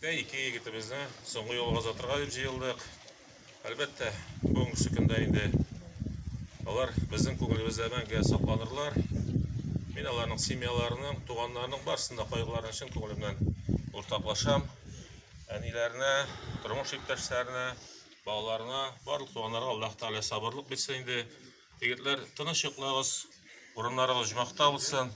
Ә ике егетебезне соңгы юлга озатырга дип җыелдык. Әлбәттә, бүгенге көндә инде алар безнең күңелебездә мәңге сакланырлар. Мин аларның семьяларының, туганнарының барсын да кайгыларын чын күңелемнән уртаклашам. Әниләренә, тормыш иптәшләренә, балаларына, барлык туганнарга Аллаһ Тәгалә сабырлык бирсен инде. Егетләр, тыныч йоклагыз, урыннарыгыз җмахта булсын.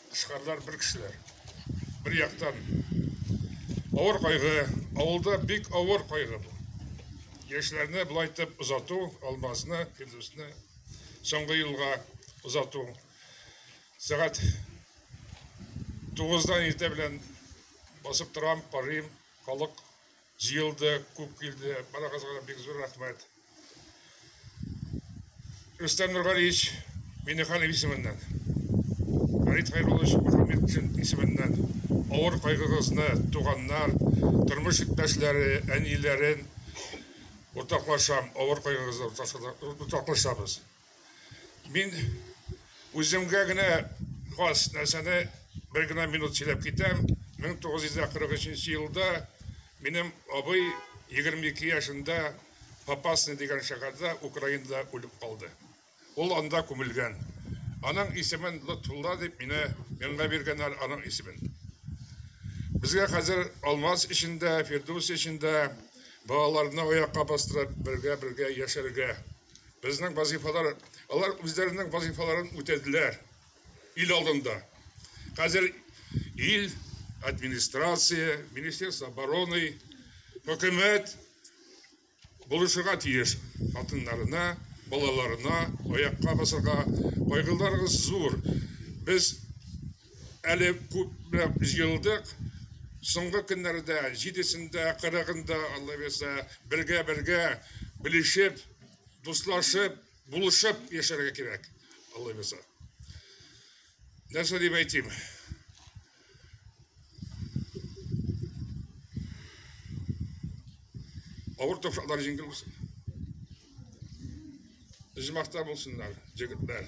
Тышкарлар бер кешеләр. Бер яктан авыр кайгы, авылда бик авыр кайгы бу. Яшьләрне былай итеп озату, Алмазны, Фирдүсне соңгы елга озату. Сәгать 9-дан иртә белән басып торам, карыйм, халык Җыелды, күп килде. Барыгызга да бик зур рәхмәт. Рөстәм Нургалиевич Минеханов исеменнән, Фәрит Хәйруллович Мөхәммедшин исеменнән авыр кайгыгызны туганнар, тормыш иптәшләре, әниләрен уртаклашам, авыр кайгыгызны уртаклашабыз. Мин үземгә генә хас нәрсәне бер генә минут сөйләп китәм. 1943 елда минем абый 22 яшендә Попасный дигән шәһәрдә Украинада үлеп калды. Ул анда күмелгән. Аның исемен Лотфулла дип мине миңа биргәннәр аның исемен. Безгә хәзер Алмаз эчендә, Фирдус эчендә балаларны аякка бастырып, бергә-бергә яшәргә Безнең вазифалар, алар үзләренең вазифаларын үтәделәр ил алдында. Хәзер ил администрация, министерство обороны, хөкүмәт булышырга тиеш хатыннарына, балаларына аякка басырга. Кайгыларыгыз зур. Без әле күпләп җыелдык. Соңгы көннәрдә җидесендә, кырыгында, алла бирсә, бергә-бергә белешеп, дуслашып, булышып яшәргә кирәк, алла бирсә. Нәрсә дип әйтим? Авыр тапшырлар җиңел булсын. Җимахта булсыннар, җегетләр.